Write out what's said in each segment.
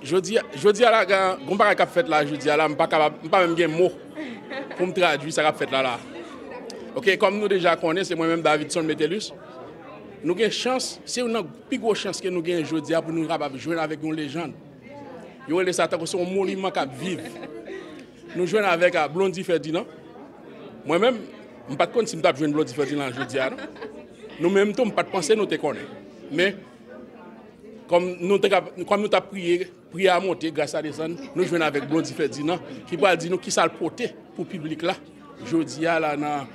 Jodi a la gen yon bagay kap fèt la jodi a la, m pa kapab, m pa menm gen mo pou m tradui sa kap fèt la la. Ok, kòm nou deja konnen se mwen menm Davidson Metellus, nou gen chans, se youn nan pi gwo chans ke nou gen jodi a pou nou kapab jwenn avèk yon lejand. Yo rele sa tankou se yon moniman k ap viv. Nou jwenn avèk a Blondy Ferdinand. Mwen menm, m pa t konn si m t ap jwenn Blondy Ferdinand jodi a non. Nou menm tou m pa t panse nou te konnen. Men, kòm nou te ka, kòm nou t ap priye, priye a monte, gras la desann, nou jwenn avèk Blondy Ferdinand ki pral di nou ki sa l pote pou piblik la jodi a la nan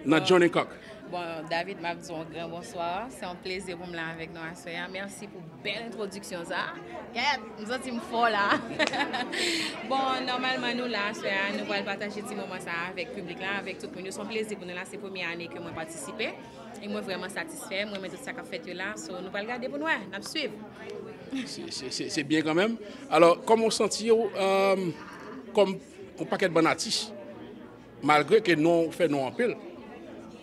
nan John Hancock. Bon, David, m ap di w yon gran bonswa. Se yon plezi pou m la avèk nou aswè a. Mèsi pou. Bèl entwodiksyon sa. Kèèt, m santi m fò la. Bon, nòmalman nou la aswè a, nou pral pataje ti moman sa a avèk piblik la, avèk tout moun yo. Se yon plezi pou nou la, se premye ane ke mwen patisipe. E mwen vrèman satisfè, m renmen tout sa k ap fèt yo la. So, nou pral gade pou n wè, n ap swiv. Se byen kanmenm. Alò, kòman w santi w kòm yon pakèt bann atis? Malgre ke non ou fè nou anpil,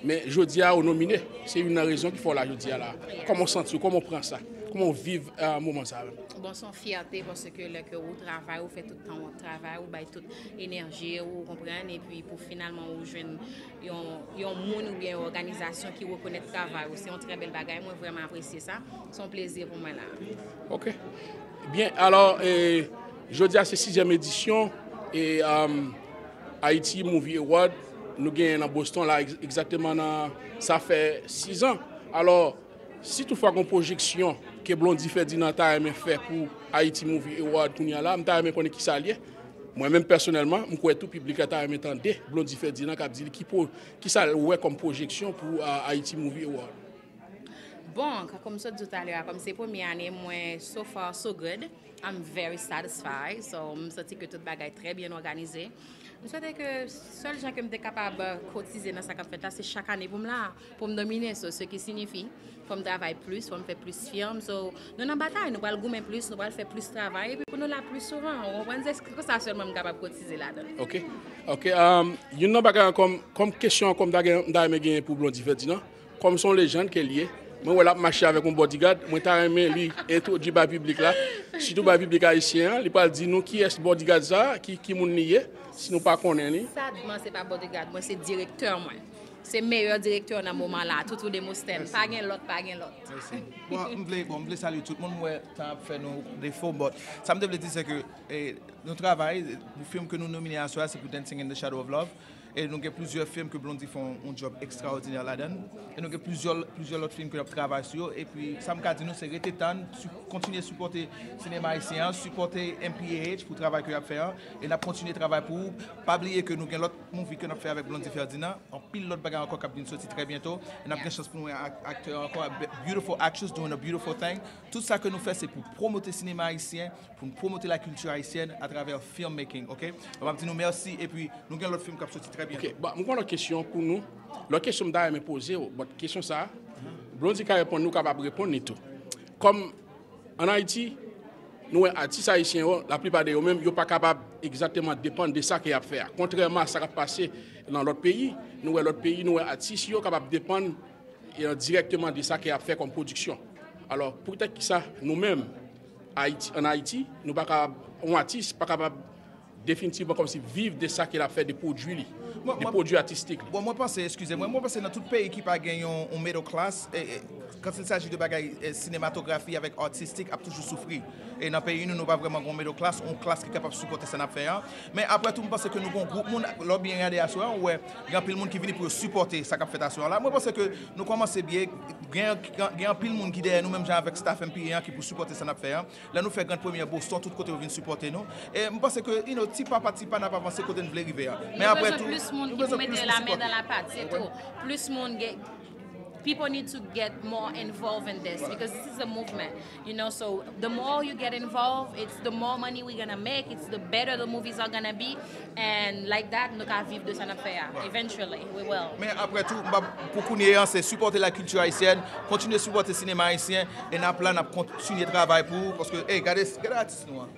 men jodi a ou nomine, se youn nan rezon ki fè w la jodi a la. Kòman w santi w, kòman w pran sa, kòman w viv moman sa menm? Bon, son fyète paske lè ke ou travay, ou fè tout tan ou ap travay, ou bay tout enèji ou, ou konprann, epi pou finalman ou jwenn yon yon moun oubyen yon òganizasyon ki rekonèt travay ou, se yon trè bèl bagay, mwen vrèman apresye sa, se yon plezi pou mwen la. Ok. Byen, alò, jodi a se sizyèm edisyon, e Haiti Movie Award nou genyen nan Boston la egzakteman nan sa fè 6 an. Alò, si tout fwa gon pwojeksyon ke Blondy Ferdinand ta renmen fè pou Haiti Movie Award kounya la, m ta renmen konnen kisa l ye. Mwen menm pèsonèlman, m kwè tou piblik la ta renmen tande Blondy Ferdinand kap di li kisa l wè kòm pwojeksyon pou Haiti Movie Award. Bon, kòm m sot di w talè a, kòm se premye ane mwen, so far so good. I'm very satisfied, so m santi ke tout bagay trè byen òganize. M swete ke sèl jan ke m te kapab kotize nan sa k ap fèt la, se chak ane pou m la, pou m domine, so se ki sinifi, fò m travay plis, fò m fè plis firm, so nou nan batay, nou pral goumen plis, nou pral fè plis travay, epi pou nou la plis souvan, ou konprann, se kon sa sèlman m kapab kotize ladan. Ok, ok, youn nan bagay ankò, kòm kesyon ankò m ta renmen genyen pou Blondie Ferdinand, Kòm son lejand ke l ye, mwen wè l ap mache avèk yon bodigad, mwen ta renmen li entwodui bay piblik la, sitou bay piblik ayisyen an, li pral di nou kiyès bodigad sa, ki moun li ye, si nou pa konnen li. Sadman se pa bodigad mwen, se direktè mwen. Se meyè direktè nan moman la, Toutou Demosthène. Pa gen lòt, pa gen lòt. Mèsi. Bon, m vle, bon, m vle salye tout moun. M wè tan ap fè nou defo, but sa m te vle di se ke nou travay, fim ke nou nomine aswè a se pou Dancing in the Shadow of Love. E nou gen plizyè film ke Blondie fè yon job ekstraòdinè ladann. E nou gen plizyè plizyè lòt film ke nap travay sou yo. Epi sam ka di nou se rete tann, kontinye sipòte sinema ayisyen an, sipòte mph pou travay ke yap fè an. E nap kontinye travay pou ou. Pa bliye ke nou gen lòt movie ke nap fè avèk Blondie Ferdinand. Anpil lòt bagay ankò kap vin soti trè byento. E nap gen chans pou nou wè aktè ankò, beautiful actress doing a beautiful thing. Tout sa ke nou fè se pou pwomote sinema ayisyen. pou n promote la kilti ayisyèn a travè film making ok m ap di nou mèsi epi nou gen lòt film k ap soti trè byento. Ok bon m gen yon lòt kesyon pou nou lòt kesyon m ta renmen poze w bòt kesyon sa Blondy ka reponn li ou kapab reponn li tou kòm an Ayiti nou wè atis ayisyen yo laplipa de yo menm yo pa kapab egzakteman depann de sa ke y ap fè a kontrèman a sa k ap pase nan lòt peyi nou wè lòt peyi nou wè atis yo kapab depann dirèkteman de sa ke y ap fè kòm pwodiksyon alò poutèt ki sa nou menm Ayiti, an Ayiti, nou pa ka, yon atis pa kapab definitivman kòmsi viv de sa ke l ap fè, de pwodui li, de pwodui atistik li. Bon, mwen panse, eskize mwen, mwen panse nan tout peyi ki pa gen yon middle class, quand il s'agit de bagay sinematografi avèk atistik ap toujou soufri. E nan peyi nou, nou pa vrèman gen yon middle class, yon klas ki kapab sipòte sa n ap fè an. Men aprè tou, mwen panse ke nou gen yon gwoup moun, lè w byen gade aswè an, ou wè gen anpil moun ki vini pou yo sipòte sa k ap fèt aswè an la. Mwen panse ke Nou kòmanse byen, gen anpil moun ki dèyè nou menm jan avèk staf MPE an ki pou sipòte sa nap fè an. Lè nou fè grand premyè Boston tout kote yo vin sipòte nou. E m panse ke you know ti pa pa ti pa nap avanse kote n vle rive an. Men aprè tou, nou bezwen plis moun pou sipòte nou. People need to get more involved in this because this is a movement. You know so the more you get involved it's the more money we gonna make it's the better the movies are gonna be and like that nou ka viv de sa nap fè a eventually we will. Men aprè tou m pa pou kounye an se sipòte la kilti ayisyèn kontinye sipòte sinema ayisyen e nap la nap kontinye travay pou paske ey gade gade atis nou an.